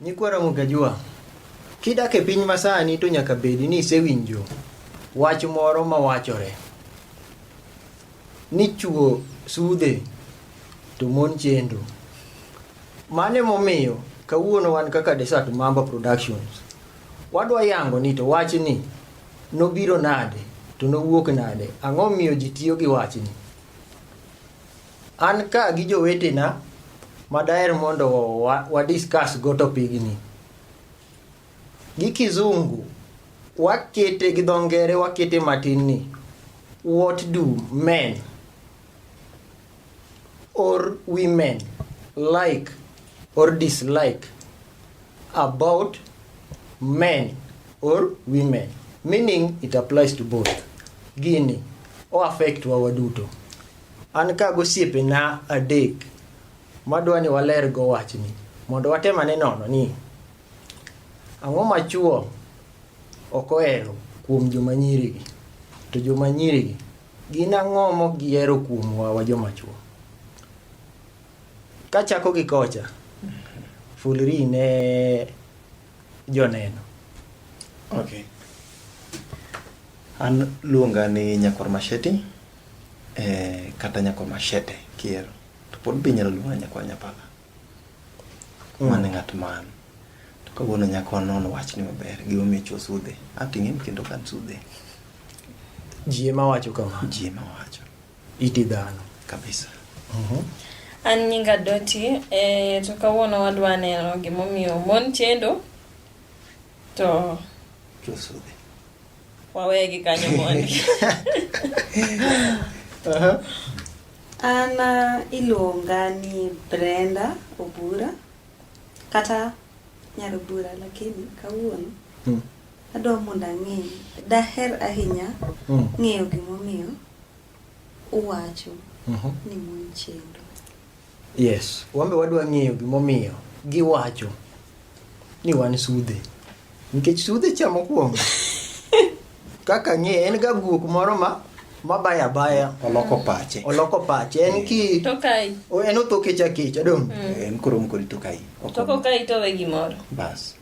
Nyikwa Ramogi Ajua, kidak e piny masani to nyaka bedi ni isewinjo wach moro mawachore ni chuo sudhe to mon chendo. Mano emomiyo kawuono wan kaka Desert Mamba Productions wadwa yango ni to wachni nobiro nade to nowuok nade, ang'o miyo ji tiyo gi wachni. An ka gi jowetena ma daher mondo wa, wa discuss go topigni. Gi kizungu wakete gi dho ngere wakete matin ni what do men or women like or dislike about men or women meaning it applies to both gini o affect wa waduto An ka gosiepena adek madwa ni waler go wachni mondo watem ane nono ni ang'o ma chwo ok ohero kuom joma nyirigi to joma nyirigi gin ang'o mok gihero kuom wawa joma chwo. Kachako gi kocha, fulri ne joneno. Okay. An luonga ni Nyakwar Masheti. eh, kata nyako machete kiero to pod be inyalo luonga nyako nyapala mm. mane ng'at man to kawuono nyako non wach ni maber gi omi chuo sudhe ating'e kendo kan sudhe ji ema wacho kama ji ema wacho iti dhano kabisa uh mhm. -huh. an nyinga doti eh, to kawuono wadwa neno gimomiyo mon chendo to chuo sudhe Wawegi kanyo mondi. Aha. An ah, iluonga ni Brenda Obura kata Nyarobura lakini kawuono Mm. adwa mondo ang'e daher ahinya Mm. ng'eyo gimomiyo uwacho uh mhm. -huh. ni mon chendo. Yes, wambe wadwa ng'eyo gimomiyo giwacho ni wan sudhe nikech sudhe cha mokwongo kaka ng'e en ga guok moro ma mabaya abaya oloko pache oloko pache en ki tokai en otho kecha kecha dong mm. en koro mkori tokai toko kai to we gimoro bas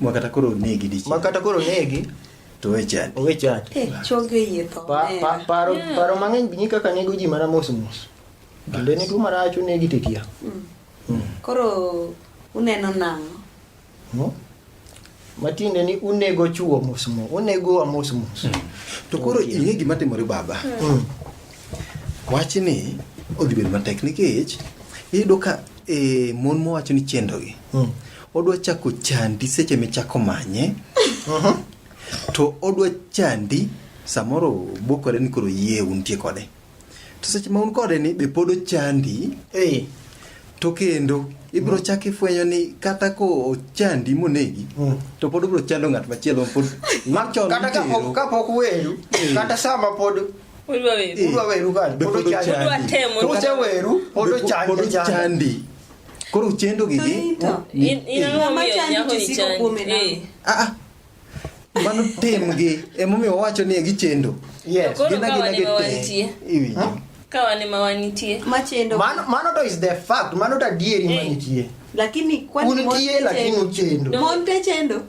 Ma kata koro onegi dichiel. Ma kata koro onegi to we chadi. Owe chadi. Eh, chogo yie tho. Pa, pa, paro, yeah. paro mang'eny binyi kaka nego ji mana mos mos. Kendo ne tuo marach onegi titia. Mm. Mm. Koro uneno nang'o? Hmm? matiende ni unego chuo mos mos unego wa mos mos hmm. to koro ing'e gima timore baba hmm. wachni odhi bedo matek nikech iyudo ka e, mon mowacho ni chendogi Mm. Odwa chako chandi seche michako manye. Mhm. To odwa chandi samoro bokore ni koro yie untie kode. To seche ma un kode ni be pod ochandi. Eh. To kendo ibiro chako ifwenyo ni kata ko ochandi monegi Mm. to pod obiro chando ng'at machielo pod machon Kata ka mitero. pok- ka pok weru, kata sama pod Udwa weru. Eh. udwa weru kani, Be pod pod ochandi. ochandi. Udwa temo. To kata- Useweru, pod Be po- ochandi, pod ochandi. ochandi. Koro uchendo gi gi. Ah, ah. Mano tim gi. Emomiyo wacho ni gichendo. Yes. Gina gina gite. Iwi. Kawane mawanitie. Machendo. Mano mano to is the fact. Mano to adieri manitie. Lakini kwani monte chendo? Monte chendo.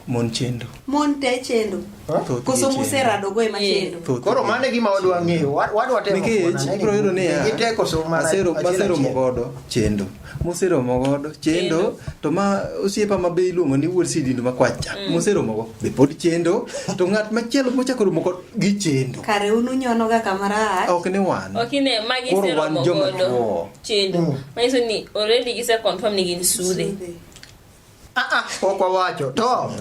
Mon chendo. Mon te chendo. Thoth Koso gi chendo. muserado go ema chendo. Thoth Koro gi- mano e gima wadwa ng'eyo. Wa- Wadwa temo nikech kuona ni ibiro yudo niya gite koso mana masero- achiel maseromo achiel. godo chendo moseromo godo chendo Chendo. to ma osiepa ma be iluongo ni wuod sidindo ma kwacha moseromogo be pod chendo to ng'at machielo mochako romo kod gi chendo Kare unu nyono ga kamara. ok ni wan okine magi Koro wan seromo joma godo chuo. chendo Mm. manyiso ni already gise confirm ni gin sude Sudhe. Ah, ah, ok wawacho to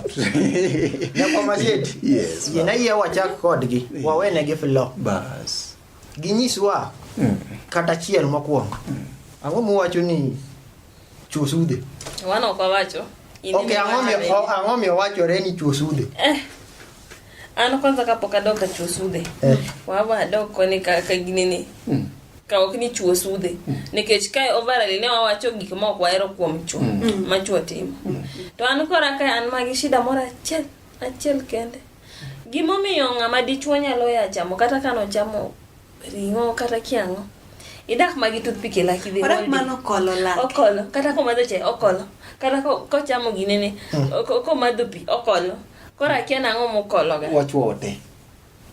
nyakwa masieti Yes, yena yie wachak kodgi wawenegi flo Bas. ginyiswa kata chiel mokwongo ang'o muwacho ni chuo sudhe Wan ok wawacho. In ok ema ang'o mi- wacho. o- ang'o mi owachore ni chuo sudhe Eh, Ano kwanza kapo kado kachuo sudhe. Eh. Wabo ado koni ka kaginini. Mm. Ka ok ni chuo sudhe. Mm. Nikech kae overall ne wawacho gik ma ok wahero kuom chuo. Mm. mm. Ma chuo timo. Mm. To an kora kae an magi shida moro achiel achiel kende. Gimomiyo ng'ama dichuo nyalo ya chamo kata kano chamo ring'o kata kiang'o. Idak magi toothpick e laki dhe. Odak mano kolo laki. Okolo. Kata komadho chae okolo. Kata kochamo ginene. Mm. Komadho pi okolo. Koro akia nang'o mukologa. Wachwo te.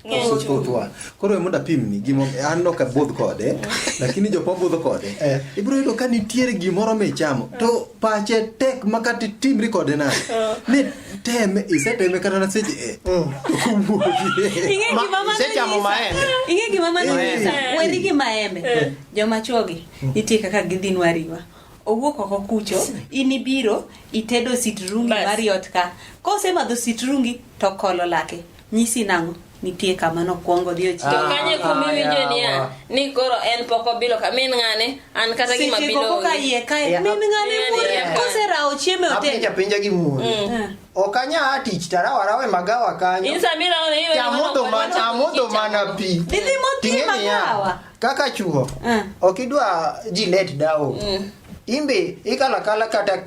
Ng'enywa. Koro mondo apimni gimo an ok abudh kode lakini jok mabudho kode eh. ibiro yudo ka nitiere gimoro michamo to eh. pache tek ma kata timri kode nade eh. ni teme iseteme kata na seche e isechamo maembe ing'e gima mano weri gi maembe joma chwogi nitie kaka gidhi nwariwa owuok oko kucho in ibiro itedo sitrungi Bas. mari ot ka kosemadho sitrungi to kolo lake nyisi nang'o nitie kama nokwongo odhi To ochiemo kanye kumi winjo niya ni koro en pok obilo ka min ng'ane an kata gima seche bilo koko ka onge. iye kae Yeah. min ng'ane Yeah, muore yeah. koserawo chiemo e otel apinja pinja gi muon ok anya a tich tarawarawe magawa kanyo Insa mira ona iwe Te amodho mana- amodho mana pi Didhi modhi Ting'e niya, magawa. kaka chuo eh. ok idwa ji let dawo eh. imbe ikalakala kata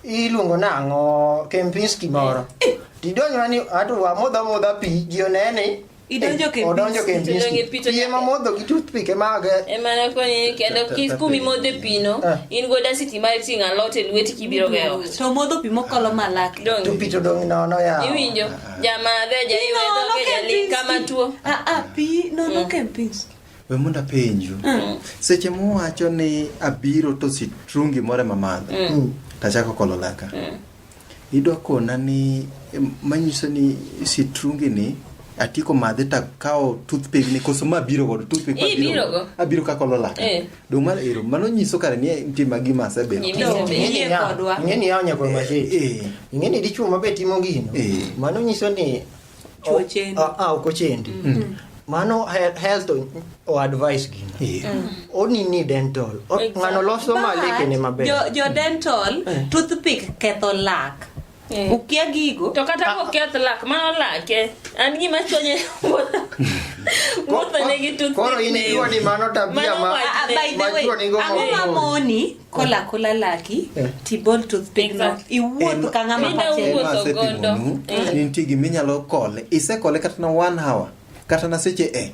iluongo nang'o kempinski moro eh. tidonjona ni ato wamodho modha pi ji onene idonjo eh, odonjo kempinskipiye mamodho gi toothpick emage emana konye kendo kumi modhe pino eh. in go dasiti mar ting' alot e lweti kibiro geot to modho pi mokolo malak to pi to dong' nono ya iwinjo Jamaa veja iwe doge jali kama tuo. Ah ah pi no no mm. ken pinch. We munda penju. Mm. Seche mu wacho ni abiro to si trungi more mamadho. Mm. mm. Tachako kolo laka. Mm. Idwa kona ni manyiso ni si trungi ni atiko madhe ta kao toothpick ni koso ma biro go toothpick ma biro. Abiro ka kolo laka. Eh. Dong mano ero, mano nyiso kare ni nitie ma gima asebedo. Nyimi- No, Ing'e ni Yie ya- kodwa. ing'e ni yawo nyakwa machete Eh, ing'e ni dichwo mabe timo gino Eh. mano nyiso ni Chwo o- chendi. a- a, ok ochendi mano he- health o- o advice gino eh. oni ni dental O- Exactly. ng'ano loso ma lekene maber Jo- jo dental toothpick ketho lak Eh. Ukia gigo. To kata ko keth lak mano lake. An gima chonye wuotho. Wuotho ne gi toothpick. Koro in ikiwa ni mano tabia ma. Ah, ah, by the way, ang'o ma moni kola kola laki eh. tibol toothpick no. Iwuoth ka ng'ama pache. Iwuotho gondo. Nitie giminyalo kole. Isekole kata na one hour. kata na seche e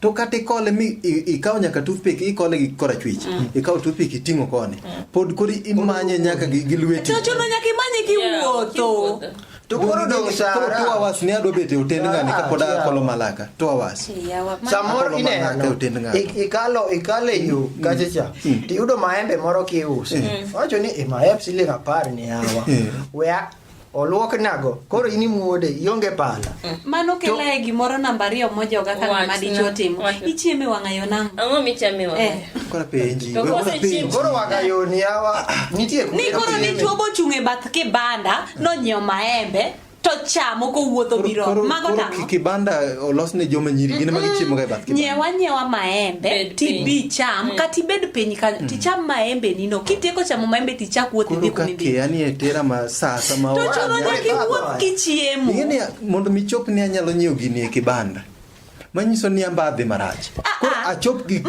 to kata ikole mi i- ikawo nyaka toothpick ikole gi korachwich ikawo toothpick iting'o koni pod kori imanye nyaka gi gi lweti To chuno nyaka imanye Yeah, kiwuotho. kiwuotho. To koro dong Sara. koro two hours ni adwa bet e hotel ngani Sara, kapod yeah. akolo malaka two hours Yawa, ma- samoro Akolo manaka ineno otin ng'ato. ik- ikalo ikalo e yo kacha cha tiyudo maembe moro kiuso wacho ni "Eh, maembe siling apar ni yawa Mm. wea oluok nago koro in imuode ionge pala mano kelae gimoro namba ariyo mojoga ka ng'ama Wachna. dichwo timo Wachna. ichieme wang'ayo nang'o ang'o michame wa Eh. koro penji To we kose wana penji. chiemo. koro wakayoni yawa nitie kuma ni koro ichieme. dichwo bochung' e bath kibanda nonyiewo maembe to chamo kowuotho Koro- biro koro- mago koro nang'o ki- kibanda olos ne joma nyiri gin ema gichiemo ga e bath kibanda nyiewa nyiewa maembe Bed tibi piny. cham kata ibed piny kanyo ticham maembe nino kitieko chamo maembe ti chakuoth dhi kumi bi. Koro kake tera ma saa sama wa. To chuno nyaki wuoth kichiemo. Ngene mondo mi chop ni anyalo nyiew gini e kibanda. Manyiso ni amba dhi marach. Ah, Koro ah. achop gi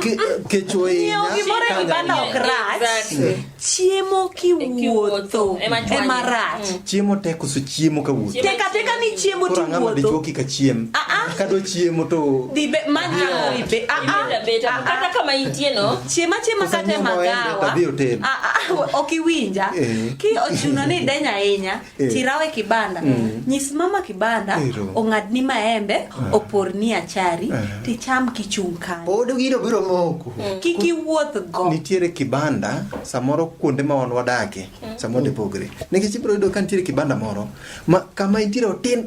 kecho e nya. Nyiew gimoro e kibanda ok rach. Chiemo kiwuotho e marach. Chiemo tek koso chiemo ka wuotho? Tek ateka ni chiemo to wuotho. Koro dichuo kika chiem. Ah, ah. Ka do chiemo to dhi be man ni ori be. Ah ah. Beta ah, kata kama intie no. Chiema chiema kata magawa. Ah ah. Ok iwinja. Eh. Ki ochuno ni denya ahinya. Eh. Tirawe kibanda. Mm. Nyis mama kibanda ong'ad ni maembe ah. opor ni achari ah. ticham kichung' kanyo. Pod gino biro moko. Mm. Kiki wuoth go. Nitiere kibanda samoro kuonde ma wan wadake. Samo de pogre. Negi chipro yudo kan tiri kibanda moro. Ma kama itiro tin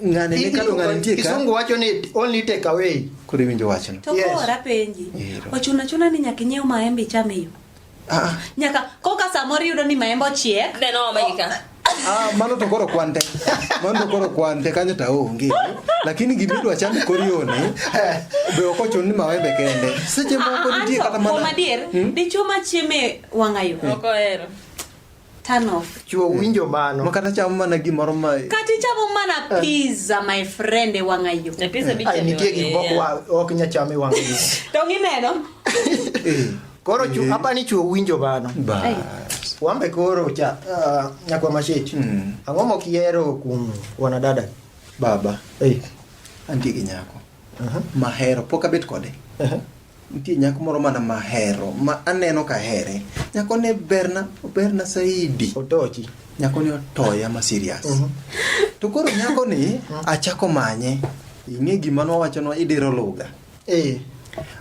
ngane ne kalo ngane tiri ka. Kisungu wacho ni only take away. Kuri winjo wacho. To yes. kora penji. Ochuna chuna ni nyaka nyiew maembe chame yo. Ah, ah. Nyaka koka samoro yudo ni maembe ochiek. Then oh my God. Ah, mano to koro kwante. Mano to koro kwante kanyo ta onge. Lakini gimidwa cham korioni. Be ok ochun ni mawembe kende. Seche moko ah, nitie kata mana. Adier, hmm? dichwo ma chieme wang'ayo. Hmm. Ok ohero. Turn off. Chuo winjo mano. Ma kata chamo mana gimoro ma. Kata chamo mana eh. pizza my friend e wang'ayo. E pizza eh. bichamo. Ai nitie gimoko ok nyachame wang'ayo. To gineno. Eh. Koro chu eh. apa ni chu winjo bano. Ba. Wambe koro cha uh, nyakwa mashechi. Mm. Ang'o mokiero kuom wanadada? Baba. Eh. Hey. Antie gi nyako. Uh -huh. Mahero pok abet kode. Uh -huh. Nitie nyako moro mana mahero ma aneno ka here. Nyako ne berna, berna saidi. Otochi. Nyako ni otoya ma serious. Uh mhm. -huh. To koro nyako ni mhm. achako manye. Ing'e gima nwawacho nwa idiro lugha. Eh,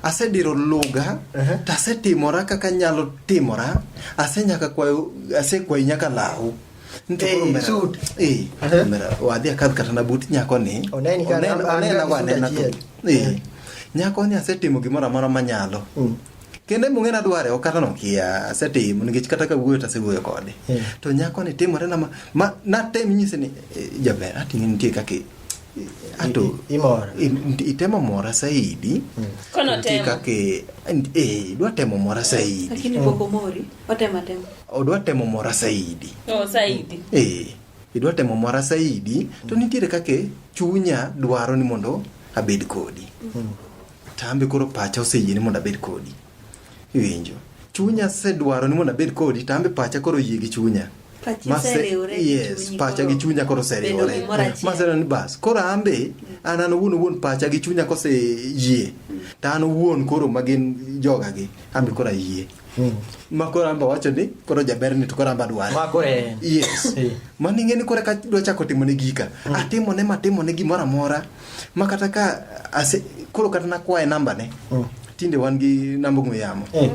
asediro luga uh -huh. to asetimora kaka nyalo timora asenyaka kwayo asekwayi nyaka lahu wadhi akadh kata na but nyako ni onena wanena tu nyako ni asetimo gimoro amora manyalo mm. kendo emong'e nadware ok kata nokia asetimo nikech kata kawuoyo to asewuoyo kode to nyako ni timore na ma natem nyise ni eh, jaber ating'e nitie kaka anto imora itemo mora saidi mm. kono temo kake eh dwa temo mora saidi lakini mm. boko mori otema temo odwa temo mora saidi oh saidi eh idwa temo mora saidi mm. to nitiere kake chunya dwaro ni mondo abed kodi mm. tambe koro pacha oseyie ni mondo abed kodi Iwinjo. Chunya sedwaro ni mondo abed kodi to ambe pacha koro yie gi chunya. Yes, pacha gi chunya koro seriwore. Maseno ni bas, koro ambe an an owuon owuon pacha gi chunya kose yie. To an owuon koro magin joga gi, ambe koro ayie. Hmm. ma koro amba wacho ni koro jaber ni to koro amba dware ma koro yes eh. mano ing'e ni koro ka dwa chako timo ne gika hmm. atimo ne matimo ne gimoro amora ma kata ka ase koro kata nakwaye namba ne Mm. tinde wan gi namba ong'we yamo Eh.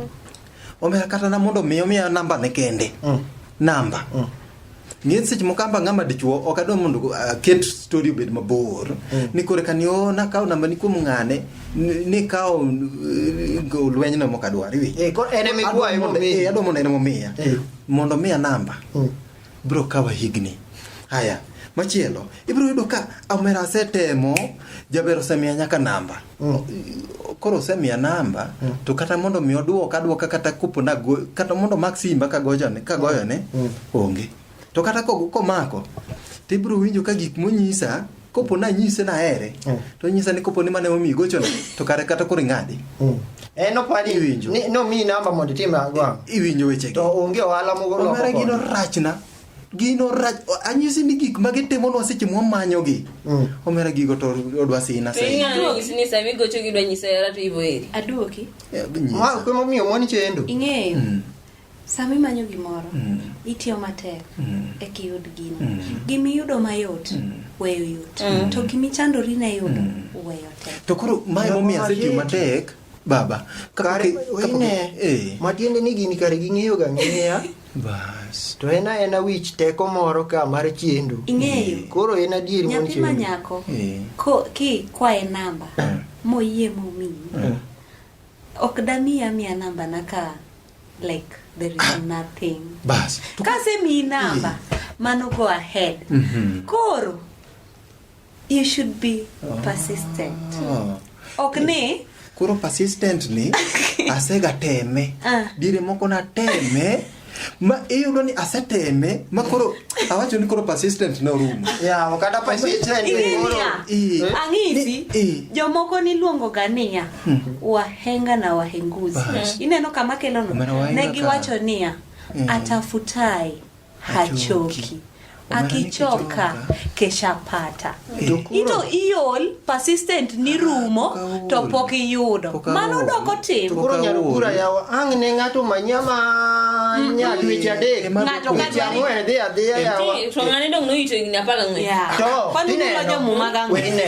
omera kata na mondo mi omiya namba ne kende Mm. namba Mm. ng'e seche moko amba ng'ama dichuo ok adwa mondo go- aket story obed mabor Mm. ni kore kani o nakawo namba ni kuom ng'ane ni- nikawo eh, go lwenyno mok adwar iwinjo Eh, koro en ema Adwa ikwaye mondo- momiyi. eh, adwa mondo en emomiya Eh. mondo miya namba Mm. bro kawa higni haya machielo ibiro yudo ka omera asetemo jaber osemiya nyaka namba mm. koro osemiya namba mm. to kata mondo mi odwoka adwoka kata kopo nago kata mondo mak simba kagoyone kagoyone mm. onge to kata komako to ibiro winjo ka gik monyisa kopo na nyise na here mm. to nyisa ni kopo ni mane omi gocho na to kare kata kuri ngadi mm. eh no pali iwinjo ni no mi namba mondo tim agwa iwinjo weche to onge ohala mogo no mara gino rachna gino rach anyisi ni gik ma gitimo nwa seche mwa manyo gi mm. omera gigo to odwa sina sai ing'ano nyisi ni sami gocho gi dwa nyisa yara to ibo eri aduoki eh, ma kuma miyo moni chendo ing'eyo mm. Sama imanyo gimoro, mm. itiyo matek mm. e kiyud gino. Mm. Gima iyudo mayot, mm. weyo yot. Mm. To gima ichandori ne yudo, mm. weyo tek. To koro mae momiyo asetiyo matek, baba. Kare, wine, eh. matiende ni gini kare ging'eyo ga ng'eya. Bas. To en aena wich teko moro ka mar chiendo. Ing'eyo. Eh. Koro en adier mon chiendo. Nyathi ma nyako, eh. ko, ki kwae namba, eh. moyie momiyi, eh. ok damiya miya namba na ka like there is ah. nothing bas kasemi number mano go ahead mm -hmm. koro you should be oh. persistent oh. ok ni koro persistent ni asega teme ah. dire moko na teme ma iyudo ni aseteme ma koro awacho ni koro persistent no rumo yawo kata persistent ang'isi jomoko niluongoga niya hmm. wahenga na wahenguzi hmm. ineno kama kelono ne giwacho niya hmm. atafutaye hachoki akichoka keshapata ito iol persistent ni rumo to pok iyudo mano doko timo koro nyalo kura yawa ang ne ngato manya ma mm-hmm. nyal wich adek ngato ka jamu e dhi adhiya yawa to ngani dong no ito igni apaka ngwe to dine no dine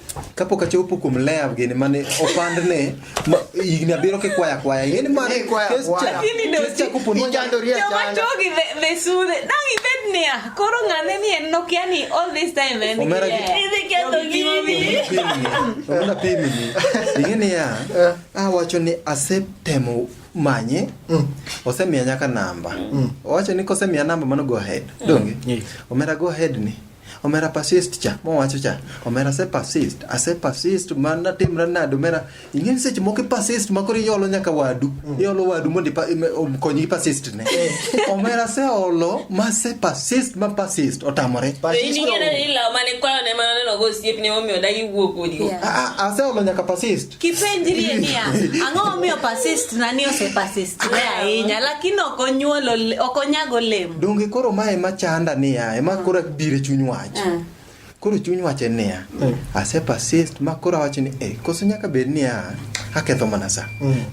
kapok achopo kuom lea gini mane opandne higni abiro kikwaya kwaya ing'eni mane keschakoponjomachogi the sudhe dang ibed niya koro ng'ane ni en nokia ni all this time en omera pimini ing'e niya eh. awacho ni asetemo manye mm. osemiya nyaka namba mm. owacho ni kosemiya namba mano go ahead donge mm. omera go ahead ni Omera persist cha, mowacho cha. Omera ase persist, ase persist man natimra nade omera. Ing'e ni seche moko persist ma koro iolo nyaka wadu. Mm. Iolo wadu mondo okonyi gi persist ne. Eh. Omera ase olo ma ase persist ma persist otamore. Ing'e ni law mane kwayo ne mana neno go osiepne momiyo dagi wuok odigo. Ase olo nyaka persist. kipenjrie niya ang'o momiyo persist nani ose persist ne ahinya lakini ok onyuolo ole- ok onyago olemo donge koro ma ema chanda niya ema koro bire chuny wach Ah. koro chuny wach en niya ase persist ma koro awacho ni eh koso nyaka bed niya aketho mana sa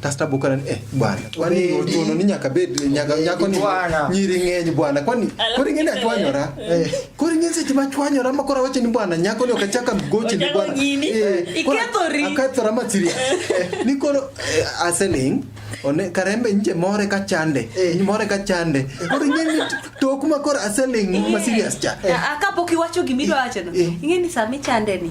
kasto abukana ni eh bwana kwani ochuno ni nyaka bed nyaka nyako ni Bwana. nyiri ng'eny bwana kwani koro ing'eni achwanyora Koro ing'e seche ma chwanyora ma koro awacho ni bwana nyako ni okachaka mgochi ni bwana. Eh, Ikethori. Akethora ma siria. Eh, ni koro eh, aseling one karembe nje more ka chande. More ka chande. Koro ing'e ni tok ma koro aseling ma serious cha. Kapok iwacho gimidwa wacho no. Ing'e ni sami chande ni.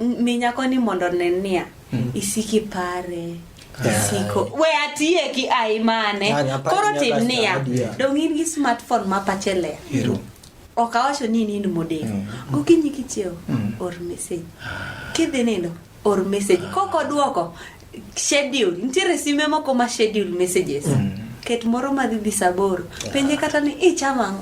mi nyako ni mondo onen niya hmm. isiki pare isiko we atiye ki ai mane koro tim niya dong in gi smartphone ma pache ler ok awacho ni nind modeko hmm. gokinyi kichiewo hmm. or message kidhi nindo or message kok oduoko schedule nitiere sime moko ma schedule messages mm. ket moro madhi dhi saboro penje kata ni ichama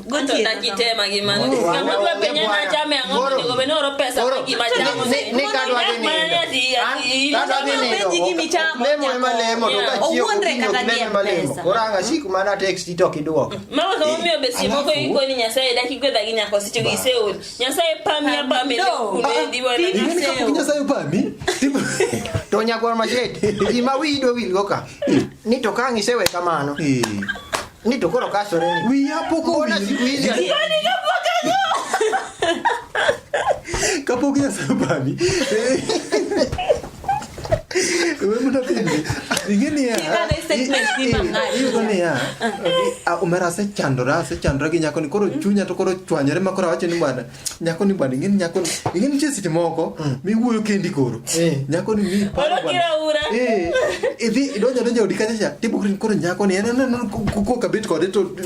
oranga siku mana text to kidwoko nyasaye pami apami nyasaye pami to nyakwar machete gima wiyi dwa wilgo ka ni to ka ang' isewe kamano eh. ni to koro kasore ni wiya pok owil kapok nyasaye pami umerase chandore ase chandore gi nyakoni koro chunya to koro chwanyore ma koro awacho ni bwana nyakoni bwana ing'eni nyakoni ing'eni nitie seche moko miwuoyo kendi koro nyakoni mi idhi idonjo donjo odi kacha cha tibukri koro nyakoni en en kokabet kode to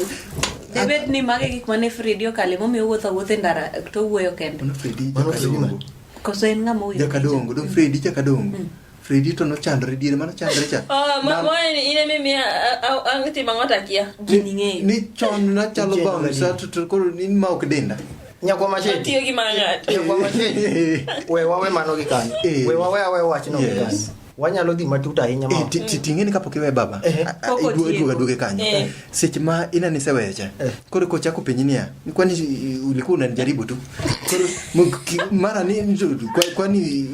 debed ni mage gik mane fredi okale momiyo wuotho wuothe ndara to wuoyo kende Koso en ng'ama owinjo. Jakadongo, do Fredi jakadongo. Mm. Fredi to nochandre diere mano chandre cha. Ah, ma mo in eme mi ang ti mangot akia. Gini ng'eyo. Ni chon na chalo bang sa to to koro ni ma ok denda. Nyakwa machete. Tiyo gi mangat. Nyakwa machete. We wawe mano gi kan. Eh. We wawe awe wach no gi kan. wanyalo dhi matut ahinya ma eh, ting'e ni kapok iwe baba eh, eh. iduoga duoge kanyo seche ma ina ni seweyo cha koro ko chako penyi niya kwani ulikuwa unanijaribu tu koro mara ni kwani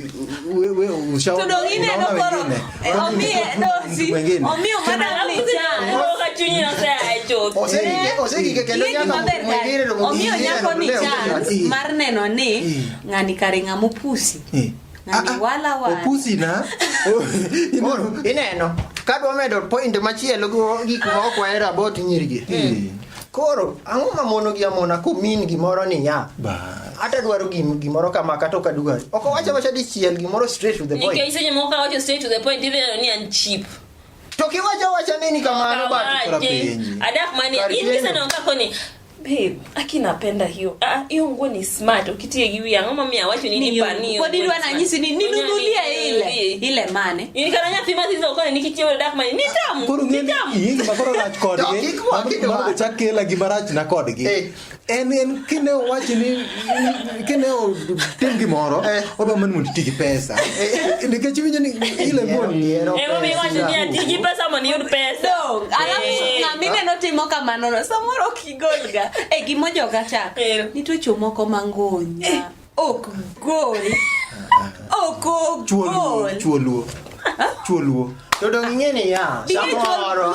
wewe ushaona tudongine no koro omie dosi omie madam ni cha kwa chunyi na sasa chote osegike osegike kendo nyaka mwingine ndo mwingine omio nyako ni cha mar neno ni ng'ani kare ng'amupusi Ah, ah. opusi na oh, ineno kadwa medo point machielo gi gik ma ok wahero about nyirigi eh. koro ang'o ma mono gi amona kumin gimoro ni ya ata dwaro gim gimoro kama kata ok adwar ok owacho wacha dichiel gimoro straight to the point nikech seche moko ka wacho straight to the point idheno ni an cheap to kiwacho wacha nini kamano bat adak mani in kiseneno kako ni Babe, aki napenda hiyo. Ah, hiyo nguo ni smart. Ukitie juu ya ngoma mimi awacho nini Ni pani. kwa dili wana nyisi ni ninunulie ile ile mane Ni kana nyati mazi hizo kwa nikitie ile dark money. Ni tamu. Koro Ni ngeni tamu. yingi makoro rach kodgi. Dok, ikwa, kitu Mano wach. chak kela gi marach na kodgi. Eh. En en kine owachi ni kene o tem gimoro eh. odwa man mondo iti gi pesa eh. nikech winjo ni ile mineno timo kamanono samoro ok igolga e gimo joga cha eh. nitocho moko mangonya ok gol ok ogol chuo luo to dong ing'e ni ya samoro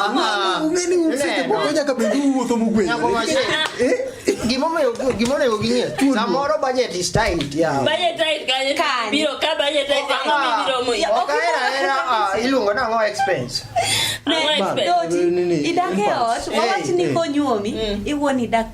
gimomiyo gimonego ging'e samoro budget is tight ya budget tight kanye biro ka budget tight kanye biro mo ya ok era era iluongo na ngo expense ne expense idake ot wawach ni konyuomi iwuon idak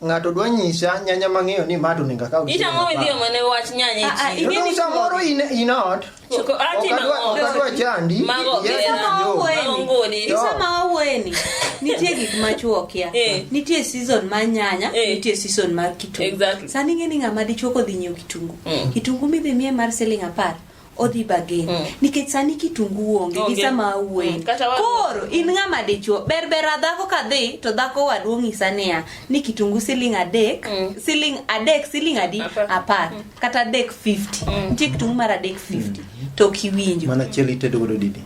Ng'ato dwa nyisa nyanya mang'eyo ni ma to onego akaw gi siling' Itang'o apar. midhiyo mane wach nyanya e Ah, ah, chiro. ing'e Kendo ni- samoro in in ot. Choko- ati Ok adwa- mang'o. ok adwa chandi. Mago Yes, gera. Isama Mago wawuoyeni. ngoli. Isama wawuoyeni. Nitie gik ma chuo kia. Eh. Nitie season mar nyanya, Eh. nitie season mar kitungu. Exactly. Sani ing'e ni ng'ama dichuo kodhi nyiewo kitungu. Mm. Kitungu midhi miye mar siling apar. odhi bagen mm. nikech sani kitungu onge gi sama awuoyi mm. koro in ng'ama dichuo berbera dhako ka dhi to dhako waduong' ng'isa niya ni kitungu siling adek mm. siling adek siling adi apar mm. kata adek 50 mm. nitie kitungu mar adek 50 mm. to kiwinjo mana chiel itedo godo didi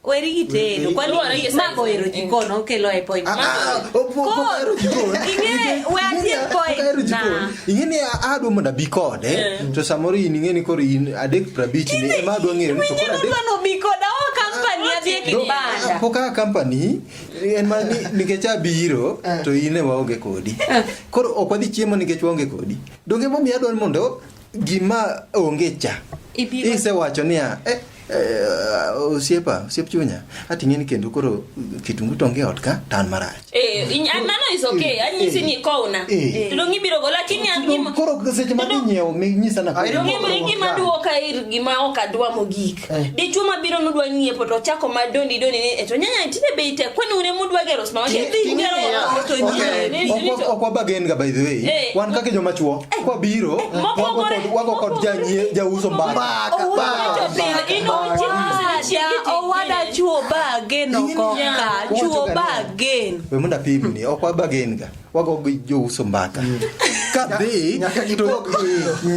Weri gi tedo. Kwani Luwore gi ma size. bohero jikon okelo e point. Ah, ah, opo- opo- Koro, ohero jikon. ing'e- we atie Opo- point ohero jikon. na. Ing'e ni a- adwa mondo abi kode Eh. to samoro in ing'e ni koro in adek prabich ni ema adwa ng'eyo ni to koro Mwenyewe adek mano bikoda o kampani adhi e No, kibanda. po kaka company en ma ni- nikech abiro to in e waonge kodi koro ok wadhi chiemo nikech waonge kodi donge momiyo adwaro mondo gima onge cha Ibiro- isewacho niya eh, eh, osiepa osiep chunya ating'e ni kendo koro kitungu tonge ot ka tan marach Eh, in- ah, mano is okay. Anyisi ni kowna. Eh. To dong ibiro go lakini an gima koro seche ma dhi nyiewo mi nyisa na Ai, Dong ibiro gima duoka ir gima ok adwa mogik. Eh. Dichuo ma biro nudwa ng'iepo to chako ma doni doni ni eto nyanya tinde bei tek kwani une mudwa gero sma wani dhi gero to nyanya. Ok wabagen ga by the way. Eh. Wan kaka joma chuo eh. kwa biro wago kod janyie jauso mbaka. Mbaka. Mbaka. Owada chuo bagen okoka chuo bagen. We munda pimni ok wabagen ga. wago gi jouso mbaka mm. kadhi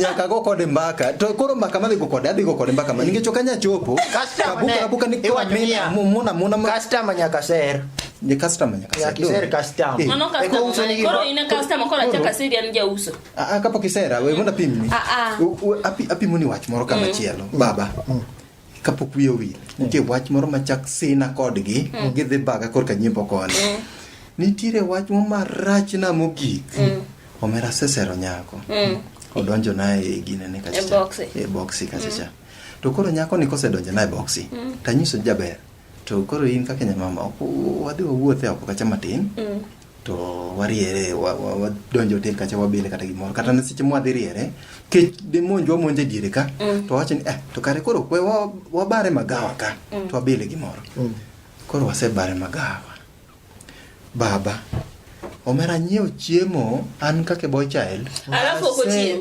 nyaka go kode mbaka to koro mbaka madhi go kode adhi go kode mbaka ma nikech okanya chopo kabuka kabuka ni kwa mimi mona mona customer nyaka ser ni customer nyaka ser kiser customer eh. mano customer koro ina customer koro acha kasiri an jauso a ah, ah, kapo kisera we mona pimni a ah, a api api muni wach moro kama mm. chielo baba mm. kapok wiye owil nitie wach moro machak sina kodgi mm. gidhi baga korka nyimbo koni mm. nitiere wach mo marachna mogik mm. omera sesero nyako odonjo naye e ginene e boksi kachacha to koro nyako ni kosedonjo naye boksi tanyiso jaber to koro in kaka nyamama wadhi wawuothe oko kacha matin to wariere wadonjo hotel kacha wabile kata gimoro kata ne seche mwadhi riere kech dimonjwa monje diere ka mm. to wacho ni eh to kare koro kwe wabare magawa ka mm. to wabile gimoro mm. koro wasebare magawa baba omera nyiew chiemo an kake boy child alafu ok ochiem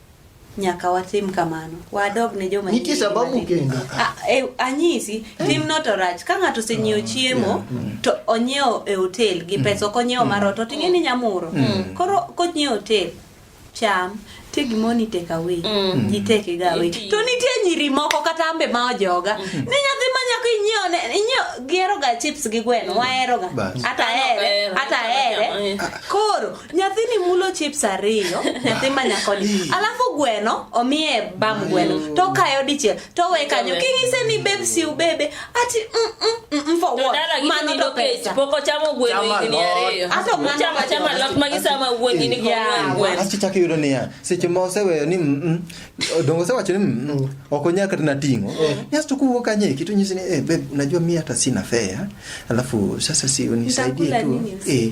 nyaka watim kamano wadog ne joma nitie sababu kendo ah, e, anyisi mm. tim not rach ka ng'ato osenyiewo mm. chiemo mm. to onyiewo e hotel gi pesa ok onyiewo mar ot oting'e ni nyamuro koro konyiewo hotel cham nitie gimoro ni take away mm. ji take ga away to nitie nyiri moko kata ambe ma ojoga mm. ni nyathi ma nyako inyiewo ne inyiewo gihero ga chips gi gweno mm. wahero ga ata here ata here koro nyathini mulo chips ariyo nyathi ma nyakoni alafu gweno omiye bam gweno to kayo dichiel to we kanyo king'ise ni beb si ubebe ati mm, mm, mm, mm, for what mano to pesa pok ochamo gweno Chama higni lot. ariyo Ato mano chama to chama pesa. lot ma gisama wuon gini ko Yeah. wuon gweno asto chako yudo niya seche ma oseweyo ni mm, mm, dongo osewacho ni mm, mm, ok onyal kata nating'o niasto kuwuok kanye kitu nyisi ni eh, babe unajua mi hata sina fea alafu sasa si unisaidie Nitakula tu nini? eh,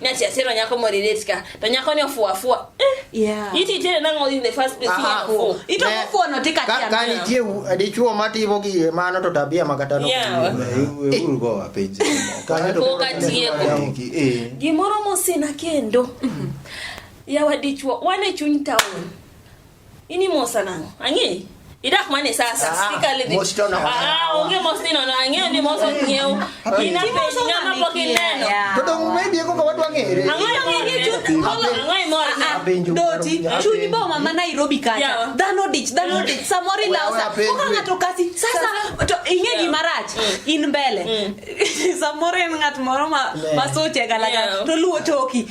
ni ati asero nyako mo relate ka to nyako ni ofuo afua eh Yeah. iti tere nango in the first place Aha. yeah, ofuo Ito Ne- kufuo no tika ka- tia ka meno. nitie u- dichuo matimo gi mano to tabia makatano Yeah. Uru go wapenje. Kanyo to- Koka tieko. Tiki, eh. gimoro mosina kendo yawa dichuo wan e chuny town Ini mo sanang. Angi. Idah mana sa sa ah, sika le. Mo sto na. Ah, onge mo sto na. Angi ni mo so ngeu. Ina pe nga ma po ki neno. Todo me bi ko kawat wangi. Angi angi ki chut. Angi mo. Doti. Chuni bo mama Nairobi kacha. Dano dich, dano dich. Samori la sa. Ko nga to kasi. Sasa to inge gi marach. Mm. In mbele. Mm. Samori ngat moro ma ma so chega la. To luo toki.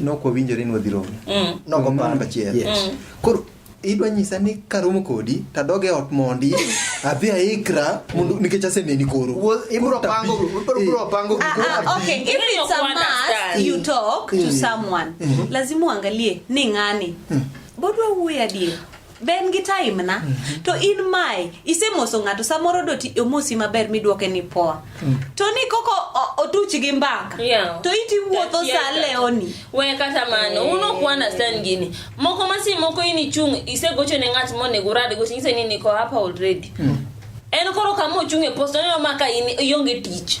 Nok wawinjore ni wadhi romo. Mm. Nogo Mm, panda achiel. yes. Mm. Koro idwa nyisa ni karomo kodi tadoge ot mondi adhi aikra mondo nikech aseneni koro. Wuo- ibro pango ibro- ibro pango Ah, ah, okay. If Really it's a don't must, understand. you talk to Mm. someone. Lazima uangalie ni ng'ani. Bodwa wuoyo adier. be en gi time na mm -hmm. to in mae isemoso ng'ato samoro do omosi maber midwoke ni poa mm. to ni koko otuch gi mbaka yeah. to iti wuotho sa leoni we kata mano hey. Eh. uno kuana stan gini moko masi moko ini chung isegocho ne ng'at monego urad gocho ng'ise ni niko hapa already mm. en koro kama ochung' e post oneno ma ka in ionge tich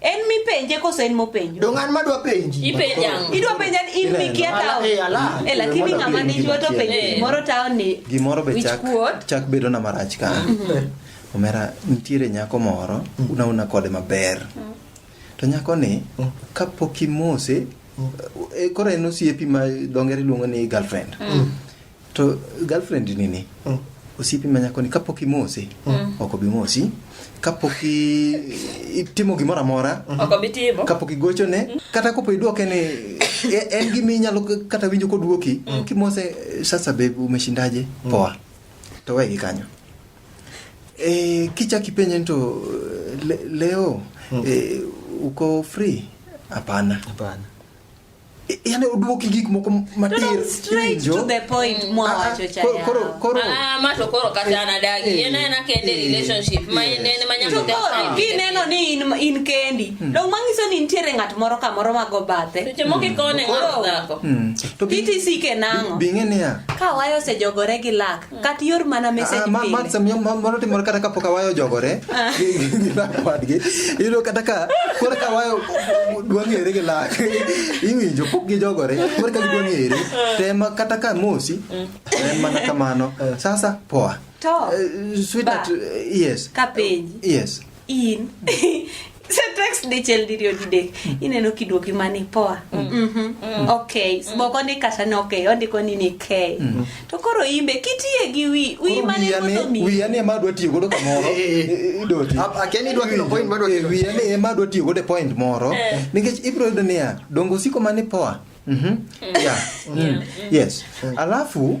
En mipenje koso en mopenjo? Dong an madwa penji. Ipenja ang'o? Idwa penja ni in mikia tao. Eh, ala. Eh, lakini ng'ama ni jwa to penjo Eh. gimoro tao ni. gimoro be Which chak, quote? chak bedo na marach ka omera nitiere nyako moro unauna kode maber to nyako ni kapok imose e, koro en osiepi ma dongere luongo ni girlfriend To girlfriend nini? Mm. Osiepi ma nyakoni kapok imose, mm. ok obi mosi. Kapok itimo gimoro amora, mm. ok obi timo. Kapok igochone, mm. kata kopo iduoke ni e, en gima inyalo kata winjo koduoki, mm. kimose sasa babe umeshindaje? Mm. Poa. To wegi kanyo. E, kichak ipenye to le, leo mm. e, uko free? Hapana. Hapana. yani uduoki gik moko matir kineno ni in kendi hmm. dong mangiso ni nitiere ng'at moro kamoro mago bathe hmm. hmm. titc kenang'o ka wayo osejogore gi lak kat yor mana ah, message pile. Ma sam yo moro timor kata ka pok awayo jogore ah. gi lak wadgi. Iyudo kata ka koro ka wayo dwa ng'ere gi lak. Iwinjo pok gi jogore koro ka gidwa ng'ere. Ah. Tema kata ka mosi mm. en mana kamano. Sasa poa. To. Eh, sweetheart, yes. Ka penji. Yes. in sa text dichiel diriyo didek ineno kiduoki mani poa Mhm. ok moko ni kata ni ok ondiko ni ni k to koro imbe kitiye gi wi wi Koro mane wiya ni- koso mi wiya ni ema adwa tiyo godo kamoro Eh, eh, eh. idoti A- akia ni idwa kelo point madwa kelo. Eh, wiya ni ema adwa tiyo godo e point moro nikech ibiro yudo niya dongo osiko mani poa Mhm. Yeah. Mm. yes alafu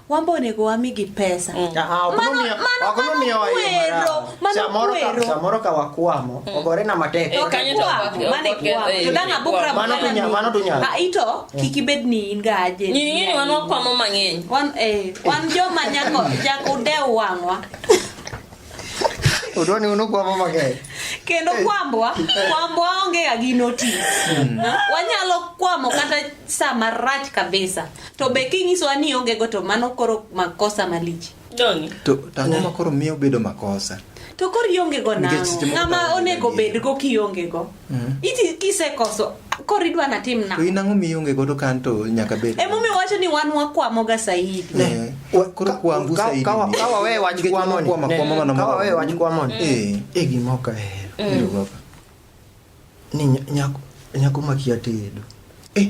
wan be onego wamigi pesa mm. ah, ah, samoro ka wakwamo mm. ogore na matek eh, ah, ito mm. kik ibed ni in ga aje wan wakwamo mang'eny wan eh, joma nyako dew wang'wa Udoni unu kwambo mang'eny. Kendo kwambwa, kwambwa onge ga gi notice. Hmm. Wanyalo kwamo kata saa marach kabisa. To be kinyisowa ni onge go to mano koro makosa malich. Dongi. To tango makoro miyo bedo makosa. To koro ionge go nang'o? Ng'ama onego bed go kionge go. Mm. Iti kisekoso koro idwa natim na. To in ang'o mionge godo kan to nyaka bed. Ema omiyo wacho ni wan wakwamo ga Saidi. Eh, koro kwambu Saidi. Ka wawe wach kwamo ni. Ka wawe wach kwamo ni. Eh, e gima ok ahero. Mm. Ni nyako nyako makia tedo. Eh.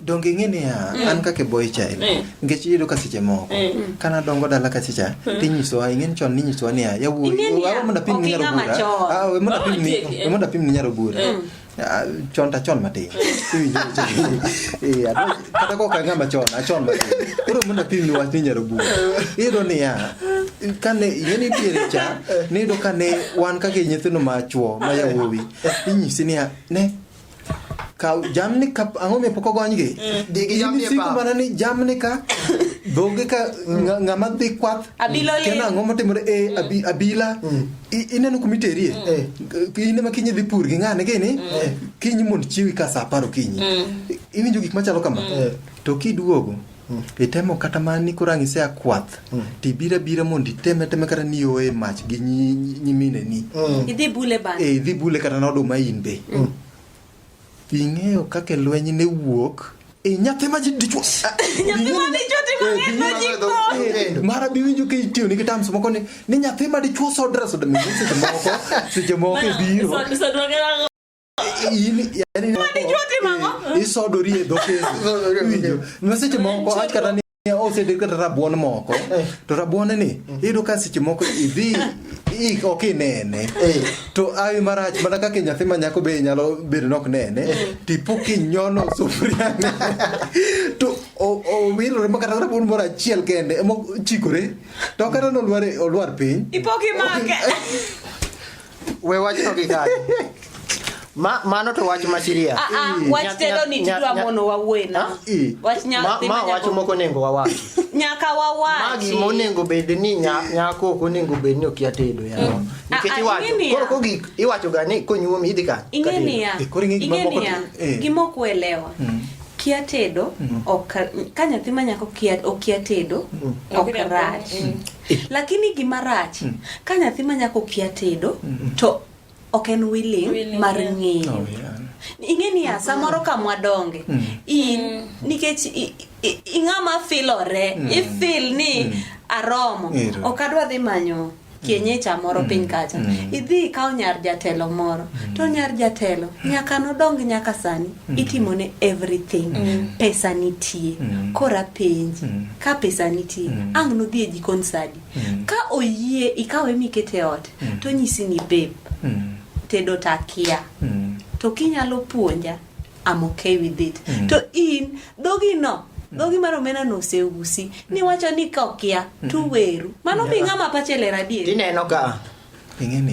donge ing'e niya mm. an kaka boy child mm. nikech iyudo ka seche moko mm. kana dongo dala ka secha mm. tinyisowa ing'e ni chon ninyisowa niya yawuoyi awe mondo apim ni nyaro bura ah, awe mondo apim ni oh, mondo apim ni nyaro bura mm. ah, chon ta chon matin eh, kata kok ang'ama chon achon matin koro mondo apim ni wach ni nyaro bura iyudo niya kane ing'eni nitiere cha niyudo kane wan kaka nyithindo ma chwo ma yawuowi inyisi niya ne ka jamni ka ang'o mi pok ogonygi mm. digi jamni siko mana ni jamni ka dhogi ka ng'ama dhi kwath kena ang'o motimore e mm. abila mm. ineno kuma iterie eh. ine ma kinyi dhi pur gi ng'ane gini eh. kinyi mond chiwi ka sa apar okinyi iwinjo gik machalo kama eh. to kiduogo Mm. Itemo kata ma ni kurang ise akwath. Mm. Ti bira bira mond iteme teme kata ni oe mach gi nyimine ni. Mm. Idhi bule ba. Eh, idhi bule kata na oduma in be. Mm. Ing'eyo kaka lweny ne wuok. Eh, nyathi ma ji dichwo. Nyathi ma dichwo timo eh, ng'e ma ji ko. Eh, mara bi winjo ka itiyo ni kitam sumo koni ni nyathi ma dichwo sodra sodra mi seche moko seche moko biro. isodori e dhokewinjo ma seche moko wach kata ni osede kata rabuon moko eh. to rabuon ni iyudo ka seche moko idhi ik ok inene eh. to awi marach mana kaka nyathi ma nyako be nyalo bedo nok nene eh. tipo kinyono sufuria to owilore ma kata rabuon moro achiel kende ema chikore to kata nolwar piny ipok imake We wachno gi kanye? Ma, mano to wach masiria. Ah, ah, wach telo ni tidwa mono wawuoye na. Wach nyathi ma, ma wach moko nengo wawachi. Nyaka wawachi. Ma gima onego bed ni nyako ok onego bed ni okia tedo ya. Mm. Ah, Nikech iwacho, koro kogik iwacho ga ni konyuomi idhi ka. Ingeni ya. Ingeni ya. Eh. Gima ok uelewa. Mm. kia tedo mm. ok ka nyathi manyako okia tedo mm. ok rach lakini gima rach mm. ka nyathi ma nyako kia tedo mm. to ok en willing, willing mar ng'eyo oh, yeah. ing'e ni ya samoro ka mwadonge mm. in mm. nikech ing'ama filore mm. ifil ni mm. aromo ok adwa dhi manyo kienyecha moro mm. piny kacha mm. idhi ikaw nyar jatelo moro mm. to nyar jatelo nyaka nodong nyaka sani itimone everything pesa nitie kora penji ka pesa nitie mm. ang' nodhi e jikon sadi mm. ka oyie ikawe mikete ot mm. to nyisi ni babe mm. tedo takia mm. to kinyalo puonja am okay with it mm. to in dhogi no mm. dhogi mar omena no oseusi mm. niwacho ni kokia mm. tuweru mano mi ng'ama pache ler adier ineno ka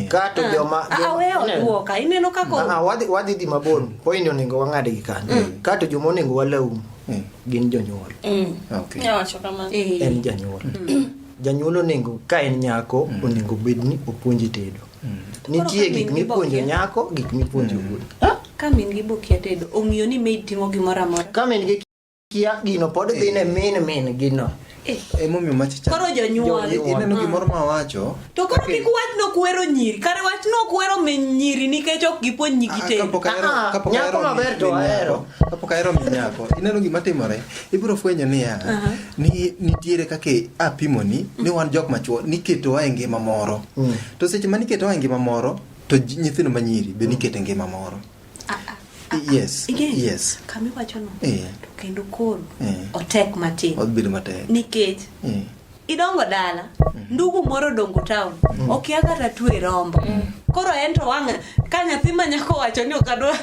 kato ah. joma ah, ineno kaka wadhi wadhi di mabor point onego wang'ad gi kanyo mm. kato joma onego walaum mm. gin jonyuol mm. eh. en janyuol janyuol onego ka en nyako onego bed ni opuonji tedo nitie gik mipuonjo nyako gik mipuonjo wuoyi ka min gi bokia tedo ong'iyo ni maid timo gimoro amora kia gino pod dhi ne min min gino Eh. emomiyo machicha Koro jonyuol. ineno gimoro ma wacho to koro kik wach nokwero nyiri kare wach nokwero min nyiri nikech ok gipuonj nyigi tedo kapok ahero Ah, ah, kapok nyako ahero maber to min nyako, ahero. kapok ahero min nyako ineno gima timore ibiro fwenyo niya ni nitiere kaka apimoni ni wan jok machuo niketowa e ngima moro to seche ma niketowa e ngima moro to ji- nyithindo manyiri be nikete ngima moro yes Again, yes kama iwachono eh. to kendo koro eh. otek matin obedo matek nikech eh. idongo dala mm. ndugu moro dongo town mm. okia kata twe rombo mm. koro en to wang' ka nyathi ma nyako wacho ni okadwa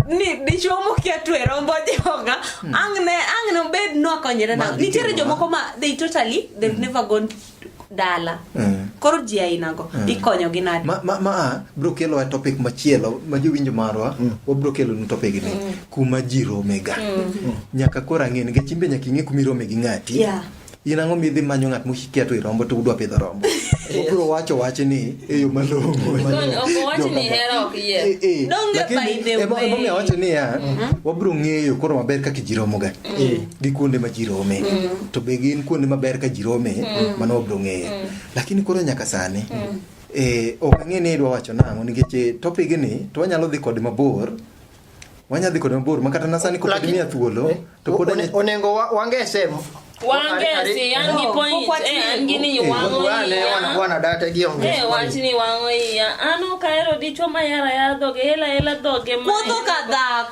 ni dichuo mokia twe rombo joga mm. ang' ne ang' nobed nokonyre na nitiere jomoko ma they totally they've mm. never gone dala mm. koro ji ainago mm. ikonyogi nade ma, ma, ma biro kelowa topic machielo ma jowinjo marwa mm. wabiro kelonu topic ni mm. kuma ji romega mm. mm. nyaka koro ang'e nikech imbe nyaka ing'e kuma irome gi ng'ati yeah. in ang'o midhi manyo ng'at mokikia to irombo to udwa pidho rombo obiro wacho wach ni e yo malong'o e, e. emomiyo wacho niya mm-hmm. wabiro ng'eyo koro maber kaka ji romoga mm. gi kuonde ma ji rome mm. to be gin kuonde maber ka ji rome mm. mano wabro ng'eyo mm. lakini koro nyaka sani mm. eh, ok ang'e ni idwa wacho nang'o nikech eh, topig ni to wanyalo dhi kode mabor wanyadhi kode mabor makata nasani kopod miya thuolo eh, to pod onego wange sehemu wangesi an gi point eh an gi ni wango iya wana data gi onge eh wach ni wango iya an ok ahero dichwo ma yara yara dhoge hela hela dhoge ma wuotho ka dhako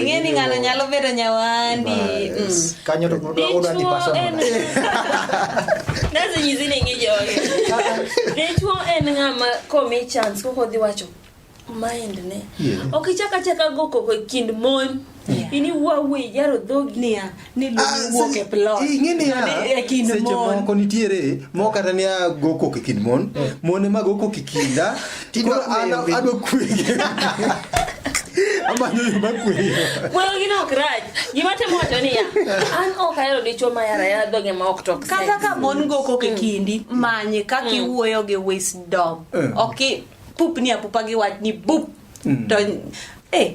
ing'eni ng'ano nyalo bedo nyawandi kanyo to udadi pasanase nyisi ni ing'e joge dichuo en ng'ama komi chance koko dhi wacho mind ne ok ichak achaka go koko e kind mon ini wuawuoyi yaro dhogi ni luwuok e plot ing'eni ya seche moko nitiere moko kata ni ago kok e kind mon eh. mon ema go kok e kinda koro an adwa kwege amanyo yo makweyo moyo gin ok rach gima temo wacho niya an ok ahero dichwo ma yara yara dhoge ma ok tok kata ka mon go kok e mm. kindi manye kaka mm. iwuoyo gi wisdom eh. ok pupni apupa gi wach ni bup mm. to eh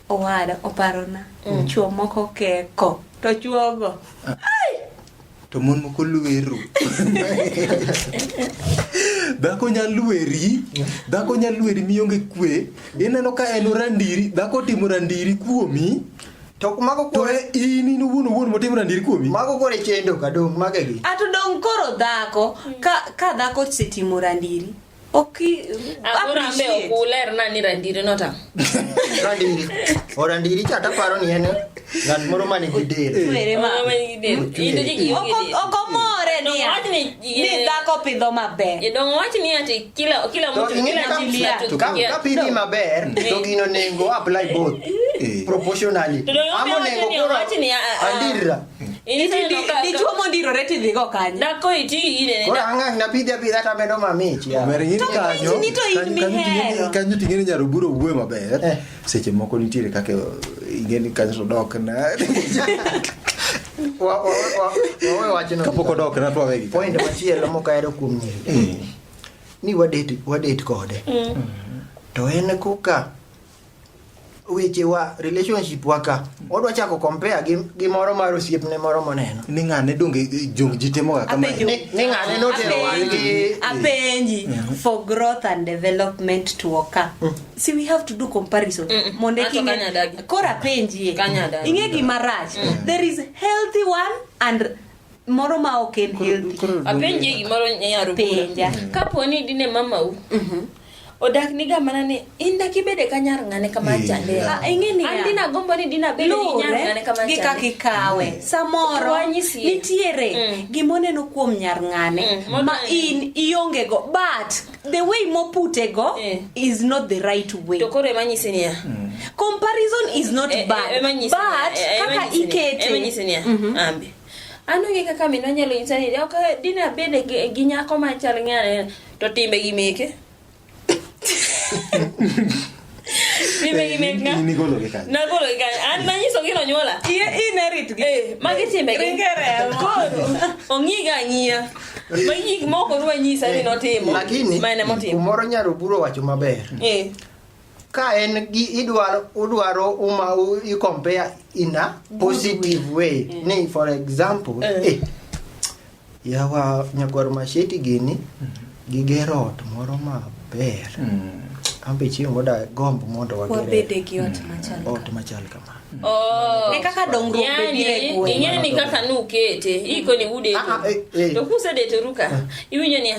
owada oparona mm. chuo moko keko to chuogo ah. to mon moko lweru dhako nya lweri dhako nya lweri mionge kwe ineno ka en orandiri dhako timo randiri kuomi to mago kore in in wuon wuon motimo na ndir kuomi mago kore chendo ka dong mage gi ato dong koro dhako ka ka dhako setimo randiri orandiri cha taparo ni en ng'at moro mani gi delokomore ni dhako pidho maberkapidhi maber to gino nengo apply both proportionally amo nengo koro andirra Dichuo mondirore tidhigo kanye? Dhako iti ire. Koro ang'ang' napidhi apidha tamedo mamich. Kanyo ting'eni nyaroburo wuoyo maber. Eh. Seche moko nitiere kaka ing'eni kanyo to dok na. Kapok odok na twawe gi. Point machielo mokahero kuom nyiri. Eh. Ni wadate kode. Mm. To en koka weche wa relationship wa ka odwa chako compare gi, gi moro mar osiepne moro moneno ni ng'ane donge eh, jong ji timoga kama Apenjo. ni, ni ng'ane notero wadgi apenji for growth and development to occur see we have to do comparison mondo Ato king'e- kanyadagi. koro apenjie Kanyadagi. ing'e gima rach there is healthy one and moro ma ok en healthy Koro- apenje gimoro nyaro Penja. kapo ni dine mamau odak niga mana ni in dak ibede ka nyar ng'ane kama Iya. chande Ah, ing'e niya. an dina gombo ni dina bede gi nyar ng'ane luwore kama gi kaka chande ikawe samoro Rwanyisi. nitiere Mm. gimoneno kuom nyar ng'ane Mm. ma in iongego but the way moputego Eh. is not the right way to koro emanyisi niya mm. comparison is not eh, eh, bad eh, but kaka ikete emanyisi niya mhm. ambi an onge kaka minwa nyalo nyisa ni ok dine abed gi nyako machal ng'ane to timbe gi meke ong'iga ang'iya ma gik moko dwa nyisa ni notimo lakini kumoro nyaroburo wacho maber eh. ka en gi idwaro udwaro uma i compare in a positive way eh. ni for example eh. Eh, Yawa nyakwar Masheti gini gigero ot moro maber. An be chieng' moro dagomb mondo wagere Wabede gi ot machal ot machal kama. Oh. Ne kaka dongruok be Yani, biro e gweng'. ing'eni kaka nukete iko ni Ah, ah, eh, eh. udeto to kusedeto ruka iwinjo niya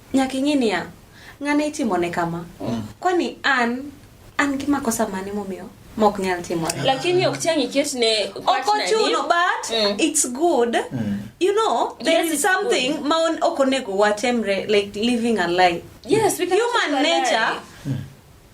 Nyaka ing'e niya, ng'ane itimone kama. Mm. Kwani an an gi makosa mane momiyo mok nyal timore lakini ok chang iket ne ok ochuno but mm. it's good mm. you know there yes, is something good. ma ok onego watemre like living a lie yes, human nature mm.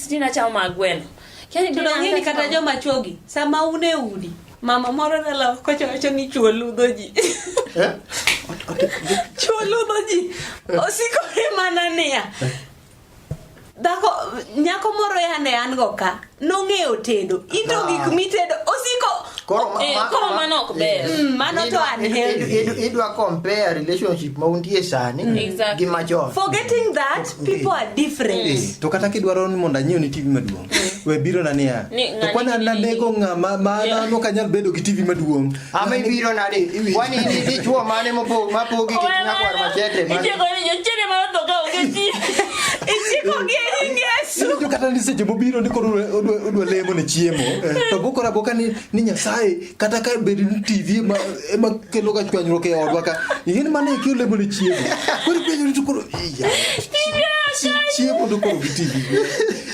Siti na chao ma gweno. Kani to ng'ini kata joma chogi sama un e udi mama moro nalo kocha wacho ni chuo ludho ji. Eh? Chuo ludho ji. Eh. Osikore mana niya. Eh. Dhako nyako moro yane an go ka nong'eyo tedo. Ito ah. gik mitedo osiko Koro eh, ma, koro mano ok ber. Mm, mano to unhealthy. Idwa compare relationship ma untie sani mm. gi machon. Forgetting that people are different eh, to kata kidwaro ni mondo anyiew ni TV maduong eh. we biro na niya to kwana na nego nga ma ma na no kanyal bedo gi TV maduong ama ibiro na de wani ni ni chuo mane mo po ma po gi kit na kwar machete ma iche ko ni yo chere ma to ka oge ti iche ko gi ni ngesu to kata ni seche mo biro ni ko odwa odwa lemo ne chiemo eh, to bukora boka ni ni nyasaye kata ka bed ni TV ema ema kelo ga chwanyruok e odwa ka ing'e ni mano e kelo lemo ne chiemo koro penjo ni to koro iya chi- chiemo to koro gi TV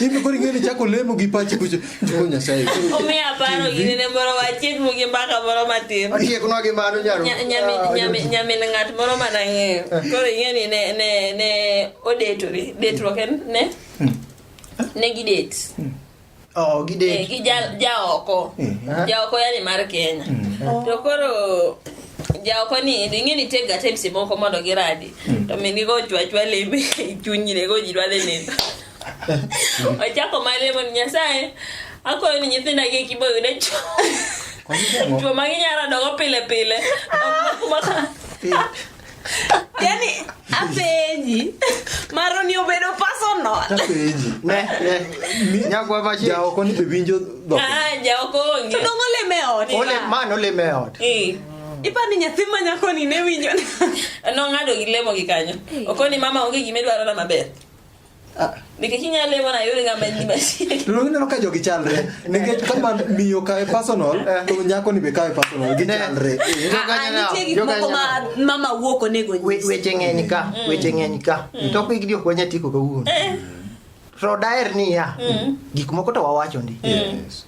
in koro ing'e ni chako lemo gi pachi kucho jiko nyasaye koro Omiyo aparo gini ne moro wachiek mu gi mbaka moro matin. Otieknwa gi mano nyaro. Nya- nyamin- nyamin- Nyamin ng'at moro mana ng'eyo. Koro ing'e ni ne ne ne odetore. Detruok en ne? Ne gi det. Oh, eh, gi jaoko eh, eh. jaoko yani mar kenya mm. to koro jaoko ni ing'e ni tega times moko mondo giradi mm. to minigo ochwachwa lembe chunynego ji dwadhe nindo ochako malemo ni nyasaye akoyo ni nyithinda gi kibo yude cho chuo ma ginyalo dogo pile pile yani apenyi maro ni obedo personal apenyi ne ne nyakwa bashi ja oko ni bebinjo do ah ja oko onge to dongo le me ot ole man ole me ot eh ipa ni nyathi ma nyako ni ne winjo no ngado gi lemo gi kanyo okoni mama onge gimedwaro na maber Ah. Nikech inyalo lemo na yore ng'ama ni machiegni. To ineno ka jogi chalre. Nikech kama miyo kawe personal, eh. to nyako ni be kawe personal. Gichalre. Eh. Ah, ah, nitie gik moko ma mama wuok onego nyis. Weche ng'eny ka, mm. weche ng'eny ka. Mm. To pigi ok wanya tiko kawuono. Eh. To daher niya, mm. gik moko to wawacho ndi. Yes.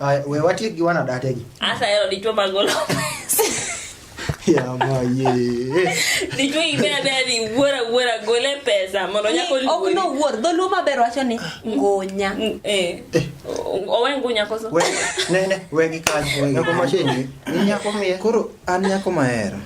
Ay, we watiek gi wana date gi. Asa hero dichwo magolo pesa. Ya ma ye. Dichwo ibe abe ni wuora wuora gole pesa mondo nyako Ni, ok no wuor dholuo maber wacho ni ngunya Eh. Owe ngunya koso. We ne ne we gi kanyo. Nyako ma sheni. Ni nyako miye. Koro an nyako mahero.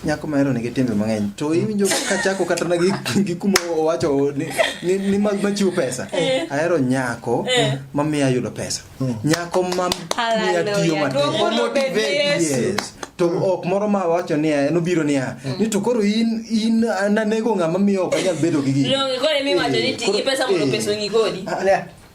nyako mahero nigi timbe mang'eny to iwinjo kachako kata na gi kuma owacho ni, ni, ni mag machiwo pesa eh. ahero nyako eh. mamiyo ayudo pesa hmm. nyako mamiya tiyo matek yes to hmm. ok moro ma wacho ni en obiro niya hmm. ni to koro in in nanego ng'ama miyo ok anyal bedo gi gini. Koro emi wacho ni ti gi pesa mondo eh. pesa ong'i kodi. Ah,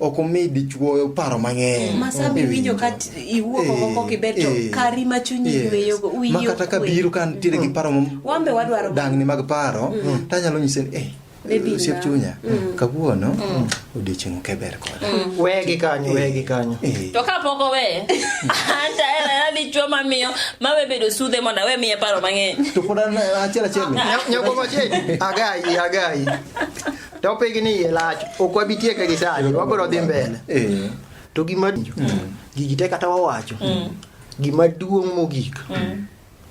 ok omi dichuo paro mang'eny. Ma sama mm. iwinjo ka iwuok oko eh, kok iber to eh. kari ma chunyi yweyogo wiyi ok Ma kata ka biro ka nitiere gi mm. paro wan be wadwaro dangni mag paro mm. to anyalo nyise ni eh osiep chunya kawuono odiochieng' ok eber koda wegi kanyo wegi kanyo eh. to kapok owe anta era dichuo mamiyo mawe bedo sudhe mondo awe miye paro mang'eny to pod achiel achiel nyako machiegni agayi agayi Topic ni yie lach, ok wabi tieke gi sani, wabiro dhi mbele. Eh. To gima mm. gigi te kata wawacho, mm. gima duong' mogik, mm.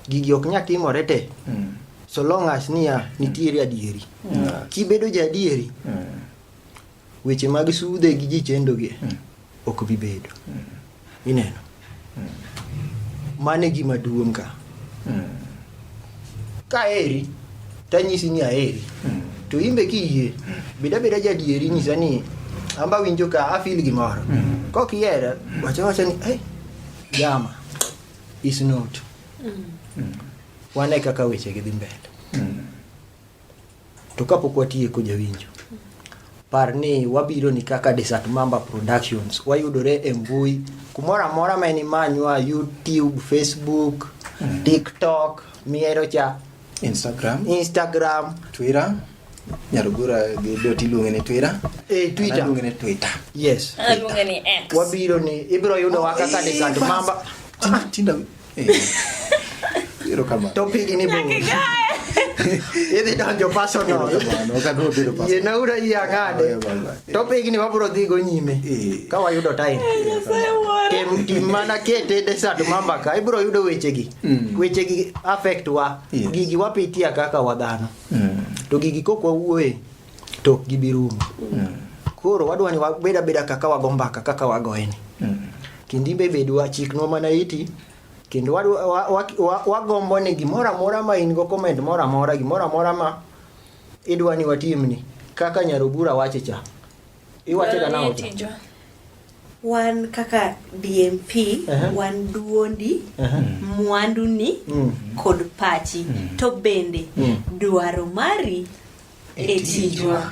gigi ok nya timore te. Mm. So long as niya, nitiere adieri. Mm. Kibedo ja adieri, mm. weche mag sude gi ji chendogi, mm. ok bi bedo. Mm. Ineno? Mano e gima duong' ka. Ka aheri, to anyisi ni aheri. To in be kiyie, bed abeda jadieri nyisa ni an be awinjo ka afil gimoro. Kok ihera, wacha wacha ni, "Hey, jama, is not." Wane kaka wechegi dhi mbele. To kapok watieko jawinjo, par ni wabiro ni kaka Desert Mamba Productions wayudore e mbui kumoro amora ma ni manywa YouTube, Facebook, mm. TikTok, miero cha Instagram, Instagram, Twitter nyarugura gi dot iluonge ni twira e eh, twita iluonge ni twita yes iluonge ni x wabiro ni ibiro yudo wa kaka ni sand mamba tinda Erokamano. To pigi ni bor. Idhi donjo personal. Erokamano. Ok adwa bedo pastor. Yie naura yie ang'ade. Oya, bye, bye. To pigi ni wabro dhi go nyime. Eh. Ka wayudo time. Nyasaye wuora. Tem tim mana kete desert mamba ka ibro yudo wechegi. Mm. Wechegi affect wa. Yes. Gigi wapitia kaka wadhano. Mm. To gigi kok wawuoye to ok gibi rumo koro wadwa ni wabed abeda kaka wago mbaka kaka wagoyeni kendo imbe bedwa chiknwa mana iti kendo wadwa- wa- wa- wa- wagombo ni gimoro amora ma in go comment moro amora gimoro amora ma idwa ni watimni kaka nyarobura wache cha Iwacho da nao. Wan kaka DMP, uh -huh. wan duondi, uh -huh. mwanduni mm. kod pachi mm. to bende mm. dwaro mari e tijwa.